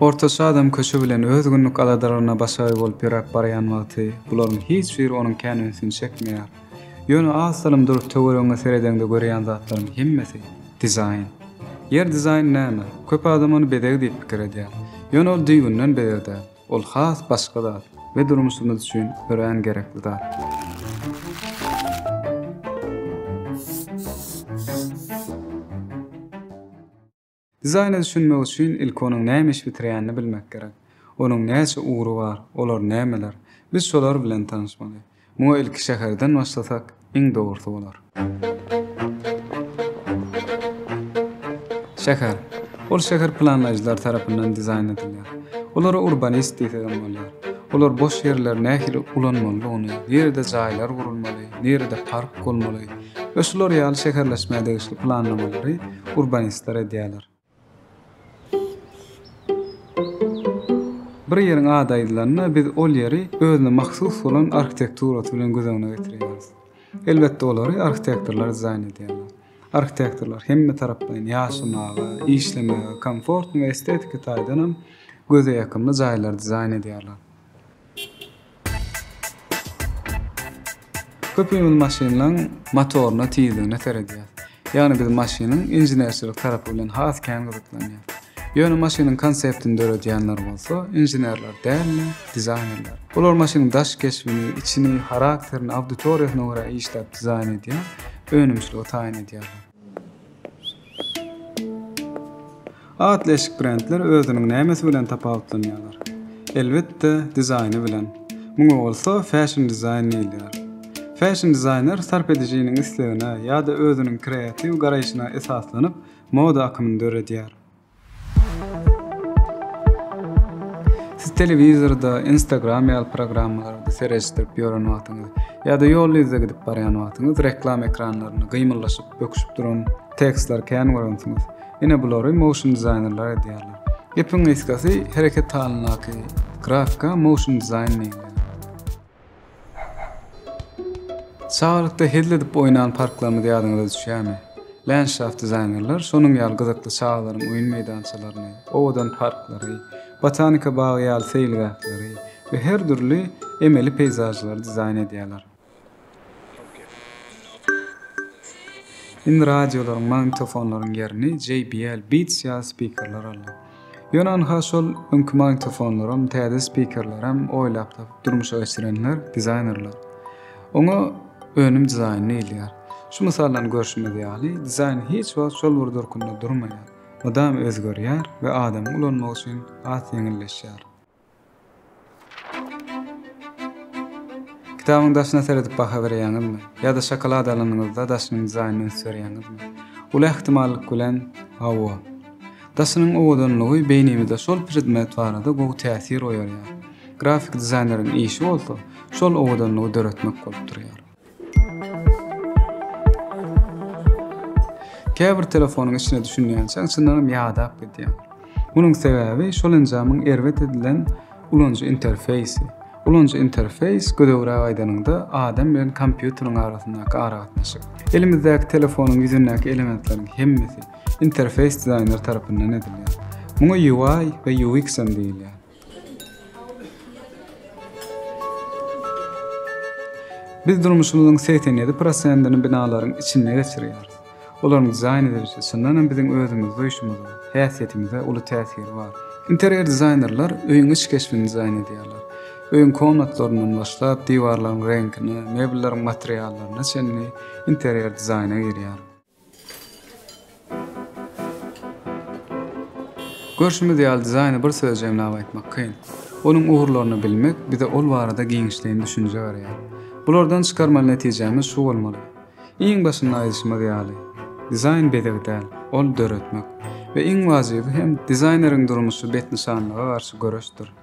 Ortaça adam köçe bilen öz günlük aladalaryna başagaý bolup ýöräp barýan wagty bularyň hiç biri onuň kän ünsüni çekmeýär. Ýöne az salym durup töweregiňe seredeňde görýän zatlaryň hemmesi, dizaýn. Ýer dizaýny näme? Köp adam ony bezeg diýip pikir edýär. Ýöne ol düýbünden bezeg däl. Ol has başga zat we durmuşymyz üçin örän gerekli zat. Dizaýna düşünmek üçin ilki onuň näme iş bitirýänini bilmek gerek. Onuň näçe ugry bar, olar nämeler? Biz şolar bilen tanyşmaly. Muňa ilki şäherden başlasak iň dogrusy bolar. Şäher. Ol şäher planlaýjylar tarapyndan dizaýn edilýär. Olara urbanist diýsegem bolýar. Olar boş ýerleri nähili ulanmalydygyny, nirede jaýlar gurulmaly, nirede park bolmaly we şular ýaly şäherleşmä degişli planlamalary urbanistler edýärler. Bir ýeriň ady aýdylanda, biz ol ýeri özüne mahsus bolan arhitekturasy bilen göz öňüne getirýäris. Elbetde, olary arhitektorlar dizaýn edýärler. Arhitektorlar hemmetaraplaýyn ýaşamaga, işlemäge komfortny we estetiki taýdan hem göze ýakymly jaýlary dizaýn edýärler. Köpimiz maşynlaryň motoryna, tizligine seredýäris. Ýagny biz maşynyň inženerçilik tarapy bilen has kän gyzyklanýarys. Ýöne maşynyň konseptini döredýänler bolsa inženerler däl-de, dizaýnerler. Olar maşynyň daş keşbini, içini, harakterini auditoriýasyna görä işläp dizaýn edýär, önümçiligi taýyn edýärler. Atly eşik brendler özüniň nämesi bilen tapawutlanýarlar? Elbetde, dizaýny bilen. Muňa bolsa fashion dizaýn diýilýär. Fashion dizaýner sarp edijiniň islegine ýa-da özüniň kreatiw garaýşyna esaslanyp, moda akymyny döredýär. Siz telewizorda Instagram ýaly programmalary seredişdirip ýören wagtyňyz ýa-da ýol ýüzde gidip barýan wagtyňyz reklama ekranlarynda gymyldaşyp, böküşip duran tekstleri kän görensiňiz. Ine bulary motion dizaýnerler edýärler. Gepiň gysgasy, hereket halyndaky grafika motion dizaýn diýilýär. Çagalykda hezil edip oýnan parklarymyz ýadyňyza düşýärmi? Landşaft dizaýnerler şonuň ýaly gyzykly çagalaryň oýun meýdançalaryny, owadan parklary, botanika bagy ýaly seýilgähleri we her dürli emeli peýzažlary dizaýn edýärler. Indi radiolaryň, magnitofonlaryň ýerini JBL Beats ýaly spikerler aldy. Ýöne ynha şol öňki magnitofonlaram, täze spikerlerem oýlap tapyp durmuşa geçirenler, dizaýnerler. Oňa önüm dizaýny diýilýär. Şu mysaldan görşümiz ýaly, dizaýn hiç wagt şol bir durkunda durmaýar, mydama özgerýär we adamyň ulanmagy üçin has ýeňilleşýär. Kitabyň daşyna seredip baha berýäňizmi? Ýa-da şokolad alanyňyzda daşynyň dizaýnyny üns berýäňizmi? Uly ähtimallyk bilen, hawa. Daşynyň owadanlygy beýnimizde şol predmet barada gowy täsir oýarýar. Grafik dizaýneriň işi bolsa, şol owadanlygy döretmek bolup durýar. Käbir telefonyň içine düşünýänçäň çyndanam ýadap gidýäň. Munuň sebäbi şol enjamyň erbet edilen ulanyjy interfeýsi. Ulanyjy interfeýs gödegräk aýdanyňda adam bilen kompýuteriň arasyndaky aragatnaşyk. Elimizdäki telefonyň ýüzündäki elementleriň hemmesi interfeýs dizaýner tarapyndan edilýär. Muňa UI we UX hem diýilýär. Biz durmuşymyzyň segsen ýedi prosentini binalaryň içinde geçirýäris. Olaryň dizaýn edilişi, çyndan hem biziň özümizi duýuşymyza, häsiýetimize uly täsiri bar. Interýer dizaýnerler öýüň iç keşbini dizaýn edýärler. Öýüň komnatlaryndan başlap, diwarlaryň reňkine, mebelleriň materiallaryna çenli interýer dizaýna girýär. Görşümiz ýaly, dizaýny bir söz jemläp aýtmak kyn. Onuň ugurlaryny bilmek bize ol barada giňişleýin düşünje berýär. Bulardan çykarmaly netijämiz şu bolmaly. Iň başynda aýdyşymyz ýaly, dizaýn bezeg däl, ol döretmek. We iň wajyby hem, dizaýneriň durmuşy betnyşanlyga garşy göreşdir.